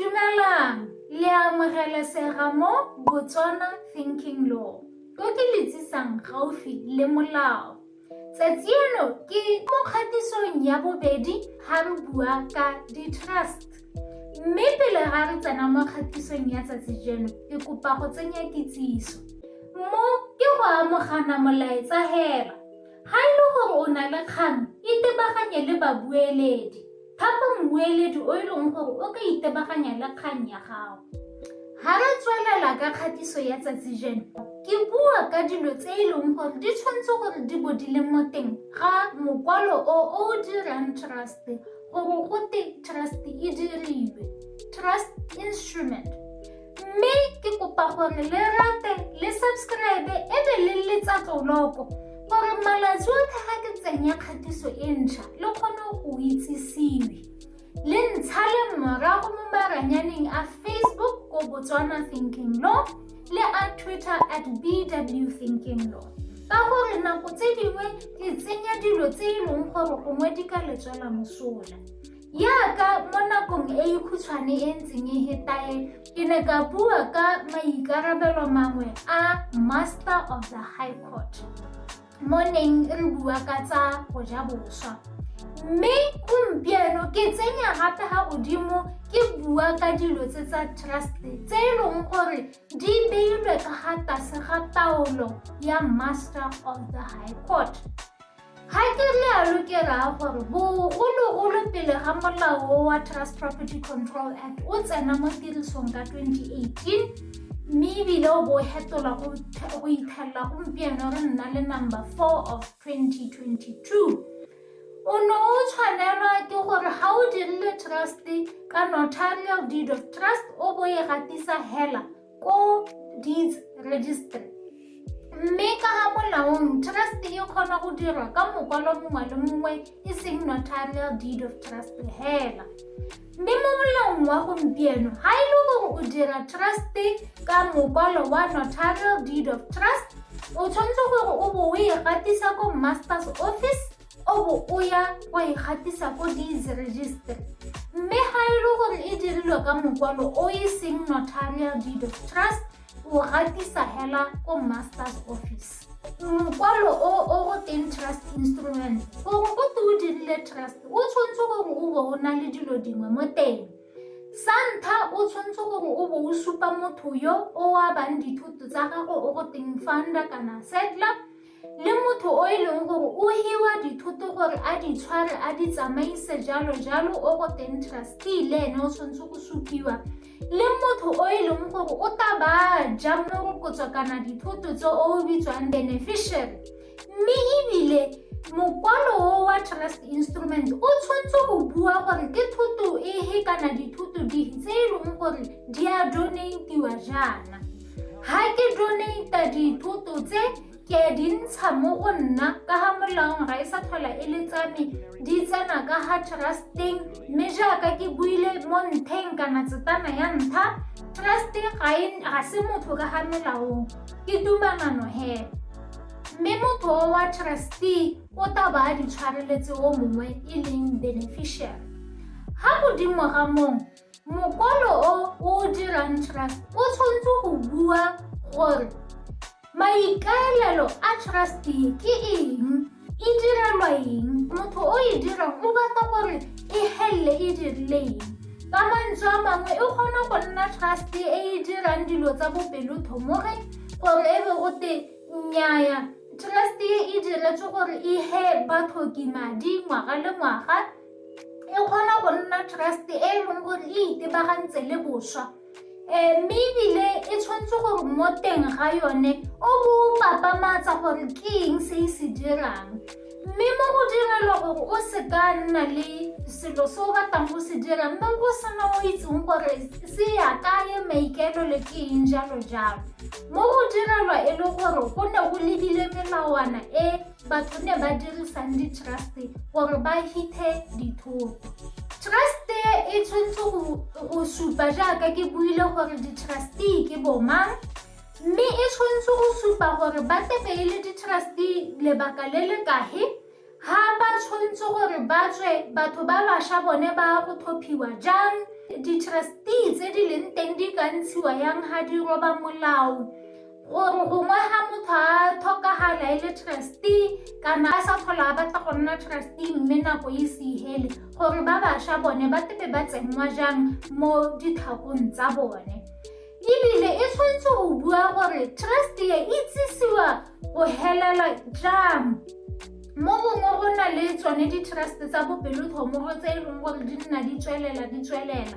Dumelang, le a amogelesega mo Botswana Thinking Law. Ko ke le tsisang gaufi le molao. Tsatsi eno ke mo kgatisong ya bobedi ga re bua ka di-trust. Mme pele ga re tsena mo kgatisong ya tsatsi jeno, ke kopa go tsenya kitsiso. Mo ke go amogana molaetsa hela. Ga e le gore o na le kgang, itebaganye le babueledi. Thapa mmueledi o e leng gore o ka itebaganya le kgang ya gago. Ga re tswelela ka kgatiso ya tsatsi jeno, ke bua ka dilo tse e leng gore di tshwanetse gore di bo di le mo teng ga mokwalo o o dirang trust gore go te trust e diriwe trust instrument mme ke kopa gore le rate le subscribe e be le letsa tloloko gore malatsi otlhe ga ke tsenya kgatiso e ntšha le kgone go itsisiwe le ntsha le morago mo maranyaneng a facebook ko botswana thinking law le a twitter at bw thinking law ka gore nako tse dingwe ke tsenya dilo tse e leng gore gongwe di ka letswela mosola Jaaka mo nakong e e khutshwane e ntseng e hetae, ke ne ka bua ka maikarabelo mangwe a Master of the High Court mo neng re bua ka tsa go ja boswa. Mme gompieno ke tsenya gape ga godimo ke bua ka dilo tse tsa trust tse e leng gore di beilwe ka ga tlase ga taolo ya Master of the High Court. Ga ke lealo ke raya gore bogologolo pele ga molao wa Trust Property Control Act o tsena mo tirisong ka 2018 mme ebile o bo fetola go ithelela gompieno re nna le number 4 of 2022 o ne o tshwanelwa ke gore ga o dirile trust ka notarial deed of trust o bo e gatisa hela ko deeds registry mme ka ga molaong trust e kgona go dirwa ka mokwalo mongwe le mongwe e seng notarial deed of trust hela mme mo molaong wa gompieno ga e le gore o dira trust ka mokwalo wa notarial deed of trust o tshwanetse gore o bo o e gatisa ko master's office o bo o ya wa e gatisa ko dease register mme ga e le gore e dirilwe ka mokwalo o e seng notarial deed of trust o gatisa hela ko master's office mokwalo o o go teng trust instrument gore go te o dirile trust o tshwanetse gore o bo o na le dilo dingwe mo teng sa ntlha o tshwanetse gore o bo o supa motho yo o abang dithoto tsa gago o go teng founder kana settler le motho o e leng gore o hiwa dithoto gore a di tshware a di tsamaise jalo jalo o go teng trustee le ene o tshwanetse go supiwa le motho o e leng gore o ta ba ja morokotso kana dithoto tse o bitswang beneficiary mme ebile mokwalo o wa trust instrument o tshwanetse go bua gore ke thoto ehe kana dithoto dife tse e leng gore di a donatiwa jaana Ha ke donate dithoto tse ke a di ntsha mo go nna ka ga molaong ga e sa tlhola e le tsame di tsena ka ga trusteng mme jaaka ke buile mo ntheng kana tsetana ya ntlha truste ga e, se motho ka ga melaong ke tumanano hela mme motho o wa trustee o taba a ditshwareletse o mongwe e leng beneficiary ga godimo ga mong Mokwalo o o dirang trust o tshwanetse go bua gore maikaelelo a trust ke eng e direlwa eng motho o e dirang o batla gore e helele e dirile eng ka mantswe a mangwe e kgona go nna trust e e dirang dilo tsa bopelotho mo re gore e be go te nnyaya trust e e diretswe gore e he bathoki madi ngwaga le ngwaga e kgona go nna trust e e leng gore e itebagantse le boswa um mme ebile e tshwanetse gore mo teng ga yone o bo o papamatsa gore ke eng se e se dirang mme mo go direlwa gore o se ka nna le selo se o batlang go se dira mme o sena o itseng gore se ya kae maikelo le ke eng jalo jalo mo go direlwa e le gore go ne go lebile melawana e Batho ne ba dirisang di-trust gore ba hithe dithoto. Trust e tshwanetse go supa jaaka ke buile gore di-trustee ke bomang mme e tshwanetse go supa gore ba tebe e le di-trustee lebaka le le kahe ha ba tshwanetse gore ba tswe batho ba bašwa bone ba go thophiwa jang di-trustee tse di leng teng di ka ntshiwa yang ha di roba molao gore gongwe ga motho a tlhokagala e le trustee kana a sa tlhola a batla go nna trustee mme nako e se ihele gore ba bašwa bone ba tebe ba tsenngwa jang mo ditlhakong tsa bone ebile e tshwanetse go bua gore trustee e itsisiwa go helela jang mo gongwe go na le tsone di-trust tsa bopelotlhomoro tse e leng gore di nna di tswelela di tswelela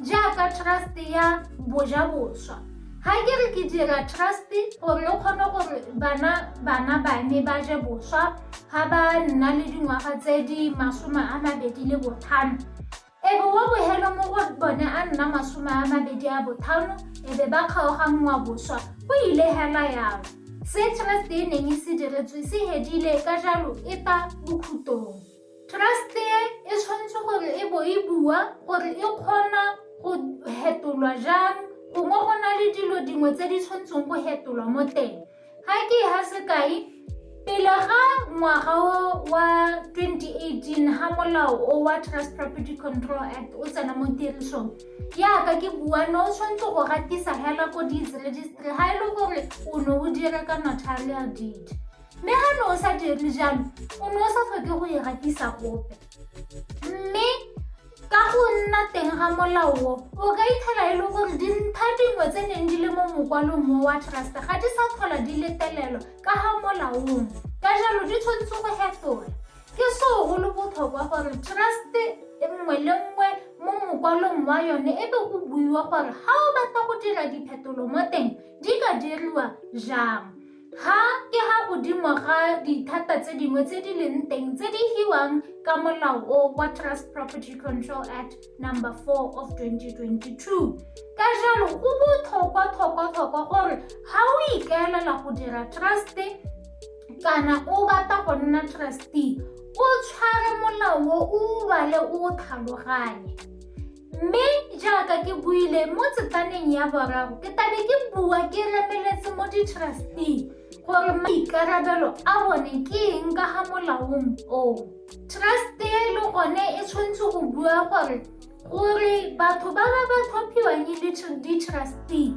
jaaka trust ya bojaboswa ga ke re ke dira trust gore o kgone gore bana bana bane ba je boswa ga ba nna le dingwaga tse di masome a mabedi le botlhano ebe wa bogelo mo go bone a nna masome a mabedi a botlhano ebe ba kgaoganngwa boswa go ile hela yalo se trust e neng e se diretswe se hedile ka jalo e ta bokhutong Trust e e tshwanetse gore e bo e bua gore e kgona go hetolwa jang gongwe go na le dilo dingwe tse di tshwanetseng go hetolwa mo teng ga ke ha sekai pele ga ngwaga wa 2018 ha molao o wa trust property control act o tsena mo tirisong yaka ke bua no o tshwanetse go gatisa hela ko deeds registry ga e le gore o ne o dira ka notarial deed Mme ga ne o sa dire jalo, o ne o sa tlhoke go e gatisa gope. Mme ka go nna teng ga molao o, o ka ithela e le gore dintlha dingwe tse neng di le mo mokwalong mo wa trust ga di sa tlhola di letelelwa ka ga molaong. Ka jalo di tshwanetse go fetola. Ke seo go le botlhokwa gore trust nngwe le nngwe mo mokwalong wa yone e be go buiwa gore ga o batla go dira diphetolo mo teng di ka diriwa jang. Ga ke ga godimo ga dithata tse dingwe tse di leng teng tse di hiwang ka molao o wa Trust Property Control Act number 4 of 2022. Ka jalo go botlhokwa tlhokwa tlhokwa gore ga o ikaelela go dira trust kana o batla go nna trustee o tshware molao o o bale o tlhaloganye. Mme jaaka ke buile mo tsetlaneng ya boraro, ke tabe ke bua ke remeletse mo di-trustee gore maikarabelo a bone ke eng ka ga molaong oo. Trust-e le gone e tshwanetse go bua gore gore batho ba ba ba tlhophiwang e le di-trustee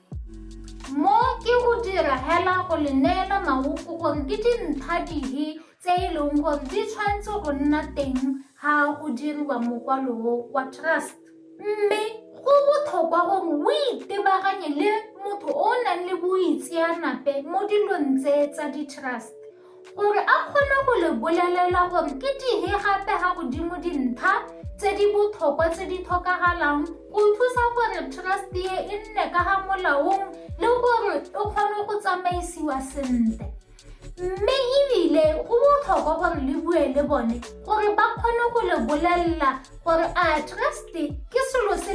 Mo ke go dira hela go le neela maoko gore ke dintlha dihe tse e leng gore di tshwanetse go nna teng ga go diriwa mokwalo wa trust mme go botlhokwa gore o itebaganye le motho o o nang le boitseanape mo dilong tse tsa di-trust O re a kgone go le bolelela gore ke dihe gape ga godimo dintlha tse di botlhokwa tse di tlhokagalang go thusa gore trust e e nne ka ga molaong le gore e kgone go tsamaisiwa sentle mme ebile go botlhokwa gore le bue le bone gore ba kgone go le bolelela gore a trust ke selo se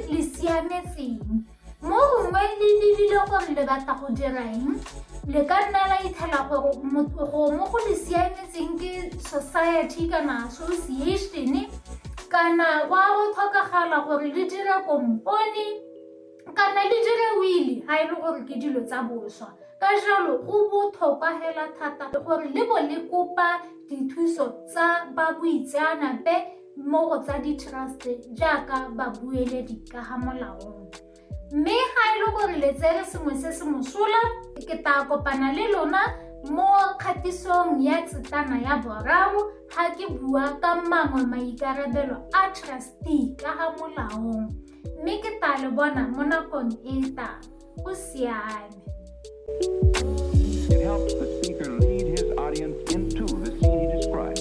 le siametseng Mo gongwe le lebile gore le batla go dira eng, le ka nna la itlhela gore gongwe go le siametseng ke society kana association kana wa go tlhokagala gore le dire kompone kana le dire wili ga e le gore ke dilo tsa boswa ka jalo go botlhokwa fela thata gore le bo le kopa dithuso tsa ba boitseanape mo go tsa di-trust jaaka babueledi ka ga molaong mme ga e le gore le tsere sengwe se se mosola ke tla kopana le lona mo kgatisong ya tsetana ya boraro ga ke bua ka mangwe maikarabelo a trustee ka ga molaong mme ke tla le bona mo nakong e e tang go siame It helps the speaker lead his audience into the scene he describes.